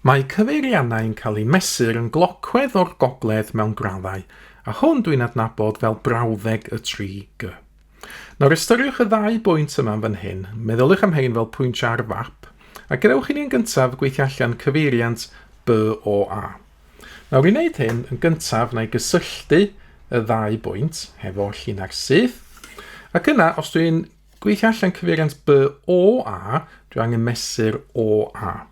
Mae cyfeiriannau yn cael eu mesur yn glocwedd o'r gogledd mewn graddau, a hwn dwi'n adnabod fel brawddeg y 3G. Nawr ystyriwch y ddau bwynt yma'n fan hyn, meddyliwch am hein fel pwyntiau ar fap, a gadewch i ni yn gyntaf gweithio allan cyfeiriant BOA. Nawr i wneud hyn, yn gyntaf na i gysylltu y ddau bwynt hefo llina'r syth, ac yna os dwi'n Gweithio allan cyfeiriant by o a, dwi angen mesur o a.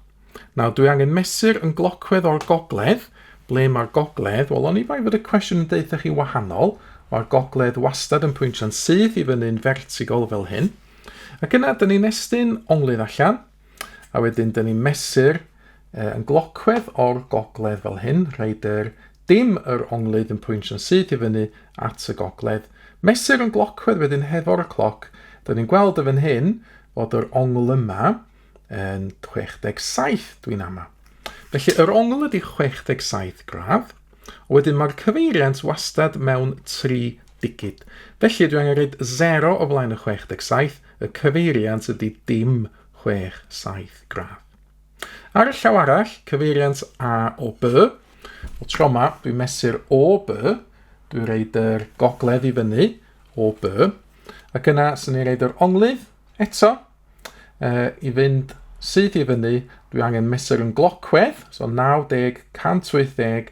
Nawr, dwi angen mesur yn glocwedd o'r gogledd. Ble mae'r gogledd? Wel, oni bai fod y cwestiwn yn deutha chi wahanol. Mae'r gogledd wastad yn pwyntio'n syth i fyny'n fertigol fel hyn. Ac yna, dyn ni'n estyn onglydd allan. A wedyn, dyn ni'n mesur uh, yn glocwedd o'r gogledd fel hyn, rhaid yr dim yr onglydd yn pwynsio'n syth i fyny at y gogledd. Mesur yn glocwedd wedyn hefo'r y cloc, dyn ni'n gweld y fan hyn fod yr ongl yma yn 67 dwi'n ama. Felly yr ongl ydy 67 gradd, wedyn mae'r cyfeiriant wastad mewn 3 digid. Felly dwi angen rhaid 0 o flaen y 67, Y cyfeiriant ydy dim chwech, saith gradd. Ar y llaw arall, cyfeiriant A o B. O tro yma, dwi'n mesur o B. Dwi'n reid yr gogledd i fyny o B. Ac yna, sy'n ei reid yr onglydd eto. E, I fynd syth i fyny, dwi angen mesur yn glocwedd, so 90, 180,